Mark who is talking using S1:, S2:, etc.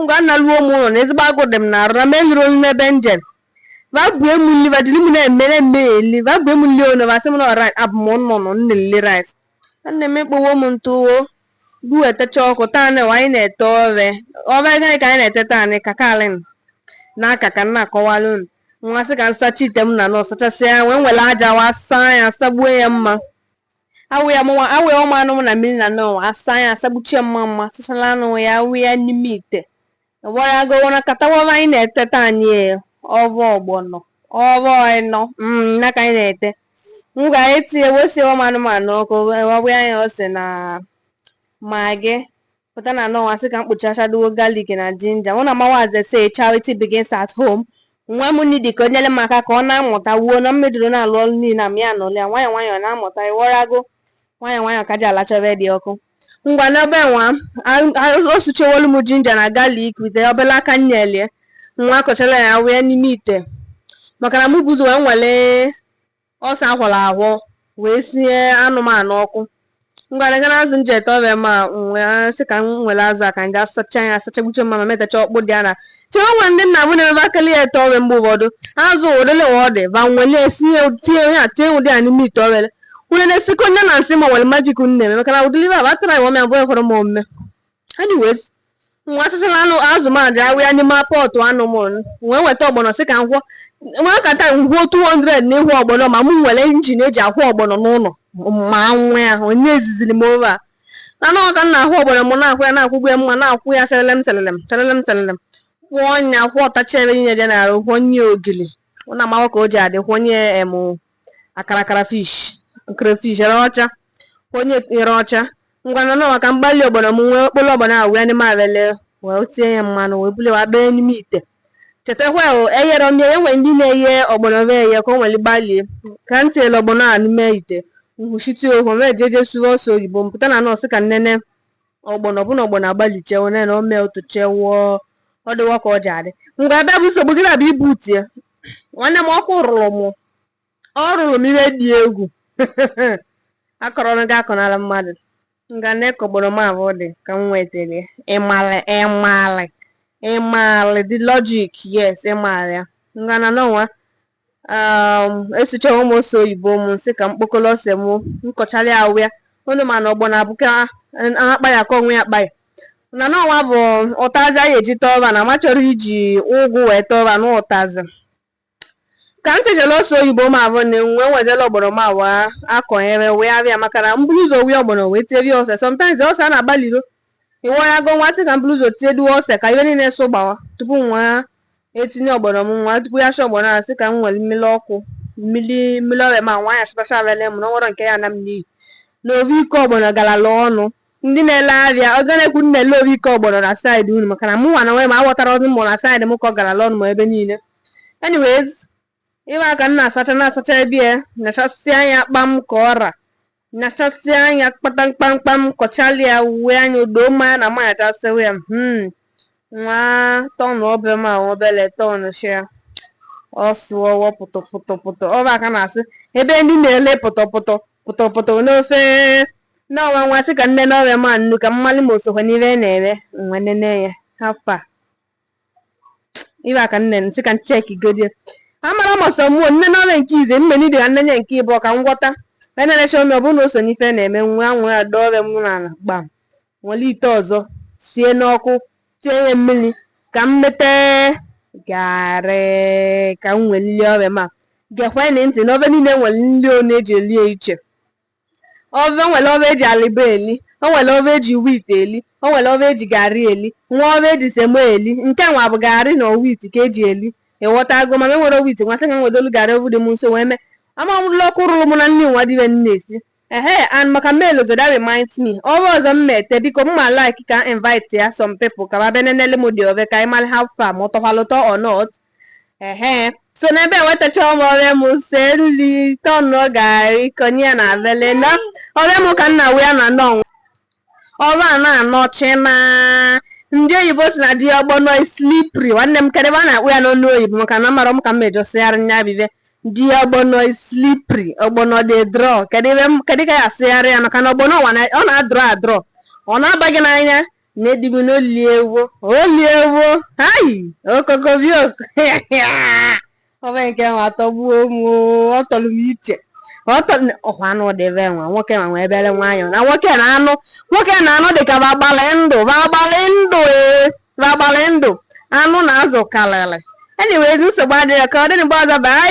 S1: ngwa nna luo m ụnọ na ezigbo agụụ dị m n'arụ na m eliro nli n'ebe njelu va bunye mụ nli va dịlị m na-emere m eli va bunye mụ nli ono va sị m na rice abụ m nnụnụ na-eli rice nne m ekpowo m ntụwo bu etecha ọkụ taa na anyị na-ete ove ove gịnị ka anyị na-ete taa na ka kalin na aka ka m na-akọwalụ unu nwa sị ka nsacha ite m na nọ sachasịa wee were aja wa saa ya sagbuo ya mma awụ ya mụnwa awụ ya ụmụ anụ m na mmiri na nọọ asa ya asagbuchie mma mma sachala anụ ya awụ ya n'ime ite gwara gị na ka taa ove anyị na-ete taa anyị e, ove ọgbọnọ ove ịnọ mm, na ka anyị na-ete m ga etinye wee sie ụmụ anụmanụ ọkụ awụ ya ose na magi pụta na nọwa sị ka m kpụchachaduo galik na jinja mụ na nwa m as they say charity begins at home nwa m nidi ka o nyere m aka ka ọ na-amụta wuo na mmedoro na-alụ ọrụ niile a m ya anọlị ya nwayọọ nwayọọ na-amụta ịghọtago nwayọọ nwayọọ ka ji alacha ove dị ọkụ ngwa n'ebe nwa o suchewolu m jinja na galik wite obele aka nyelie nwa akọchala ya awụ ya n'ime ite maka na mụ bu ụzọ wee wele Ose akwọrọ akwọ wee sie anụmanụ ọkụ. Ngwa leta na azụ nji ete ove a m wee sị ka m were azụ a ka nji asacha ya asachagbuche mma ma metacha ọkpụ dị ya na chere enwe ndị nna bụ na-emebe akịlị ya ete ove a mgbe ụfọdụ azụ ụdịle ọ dị va welie sinye tinye ya tinye ụdị ya n'ime ite ove a were na-esikọ nne na nsị ma nwere majik nne eme maka na ụdịli va batara ya ove a bụ ekwere m omume anyways nwa asachara azụ m aja awụ ya n'ime pọtụ anụ m wee weta ọgbọnọ sị ka m kwọọ nwa kata nkwụọ 200 na ịkwọ ọgbọnọ ma m nwere injin eji akwọ ọgbọnọ n'ụnọ ma nwee onye eziziri m ove a na anọ ka m na-akwọ ọgbọnọ m na-akwọ ya na-akwọgbu ya mma na-akwọ ya selelem selelem selelem selelem kwọọ ya kwọtacha ive niile dị n'arụ kwọnye ogili ọ na-amawa ka o ji adị kwọnye em akarakara fish crayfish ere ọcha onye tinyere ọcha ngwa na nọwa ka m gbalie ọgbọnọ m wee kpolo ọgbọnọ awụ ya n'ime avele wee tinye ya mmanụ wee buli wee bee n'ime ite chetakwa o eyerọ m ya enwe ndị na-eye ọgbọnọ ve eye ka o were gbalie ka m tinyere ọgbọnọ a n'ime ite nkwuchite okwu m jeje sụwa ose oyibo m pụta na nọọ sị ka nnene ọgbọnọ ọ bụ na ọgbọnọ agbalichewo na ome otochewo ọ dịwa ka o ji adị ngwa ebe bụ nsogbu gị na-abịa ibu tie nwanne m ọkụ rụrụ m ọ rụrụ m ive dị egwu akọrọnụ gị akọnala mmadụ nga nekwa ọgbọnọ m abụ dị ka m wetara ịmalị ịmalị ịmalị the logic yes ịmalị ya nga na nọwa esuchawo m ose oyibo m nsị ka m kpokọrọ ose m nkọchara ya awụ ya unu ma na ọgbọnọ abụ ka akpa ya ka o kwe akpa ya na nọwa bụ ụtazị anyị ji ete ove a na m achọrọ iji ụgụ wee tee ove a na ụtazị ka m techara ose oyibo m abụ na nwe nwezela ọgbọnọ m awa akọnyere wee abịa maka na m buru ụzọ wee ọgbọnọ wee terie ose sometimes ose a na-agbaliro ịwarago nwa sị ka m buru ụzọ tie duo ose ka ive niile so gbawa tupu nwa etinye ọgbọnọ m nwa tupu ya sha ọgbọnọ a sị ka m were mmiri ọkụ mmiri mmiri ove m a nwa ya chịtacha avele m na o nwerọ nke ya na m n'iyi na ovu iko ọgbọnọ garala ọnụ ndị na-ele ahịa ego one ka unu na-ele ovu iko ọgbọnọ na saịdị unu maka na mụ nwa na onwe m aghọtarọ ọ bụ mmụ na saịdị m ka ọ garala ọnụ ma ebe niile anyways ịwa aka m na-asacha na-asacha ebe ya nachasịa nya kpam ka ọra nyachasịa anya kpata mkpamkpam kọchalịa ya uwe anya o doo m anya na m nyachasịwa ya hmm. nwa tọnụ ove m a obele tọnụ shia ọ sụwa pụtọpụtọpụtọ ọ bụ ka a na-asị ebe ndị na-ele pụtọpụtọ pụtọpụtọ n'ofe na ọnwa nwa sị ka m nene ove m a nnu ka m malị ma o sokwa n'ihe na-eme nwa nene ya how far ibe aka nne m sị ka m chekigodi amara masọ mụọ nene ove nke ize mme n'ibe ha m nene nke ịbụọ ka m ghọta enenecha m ọ bụrụ na o so n'ife na-eme nwe anwe ya dọọ ove m n'ala gbam were ite ọzọ sie n'ọkụ tie ya mmiri ka m mete garị ka m nwee nri ove m a gekwanụ ntị n'ofe niile nwere nri ọ na-eji elie iche Ove nwere ove eji alịbọ eli, o nwere ove eji wheat eli, o nwere ove eji garị eli, nwee ove eji semo eli. Nke nwa bụ garị na wheat ka eji eli. Ịghọtago ma enwerọ m wheat nwa sị ka m wedolu garị ovu dị m nso wee mee. Ama m lụlọ ọkụ rụrụ m na nri nwa dibe nne esi. Ehe and maka m elozo that reminds me ove ọzọ m mete biko m ma like ka m invite ya some people ka ba bịa nenele m the ove ka anyị mara how far ma ọ tọkwalụ ụtọ or not. ehe so n'ebe enwetacha m ove m sie nri tọnụ garị konye ya n'avele na ove m ka m wee na-eno ọrụ a na-anọchi na ndị oyibo sị na the ọgbọnọ is slippery nwanne m kedụ ive a na-akpọ ya n'ọnụ oyibo maka na amarọ m ka m mejọsịgharị nya bụ ive the ọgbọnọ is slippery ọgbọnọ dey draw kedụ ka ya asịgharị ya maka na ọgbọnọ ọ na-adrọ adrọ ọ na-aba gị n'anya Nne di m na oliewo oliewo hai okokobioko ove nke nwa atọgbuo m ọ tọrọ m iche ọ kwa anụ dịbe nwa nwoke ma nwa ebere nwayọọ na nwoke na anụ nwoke na anụ dịka ba gbalị ndụ ba gbalị ndụ ee ba gbalị ndụ anụ na azụ karịrị anyway nsogbu adịghị ka ọ dịrị mgbe ọzọ bye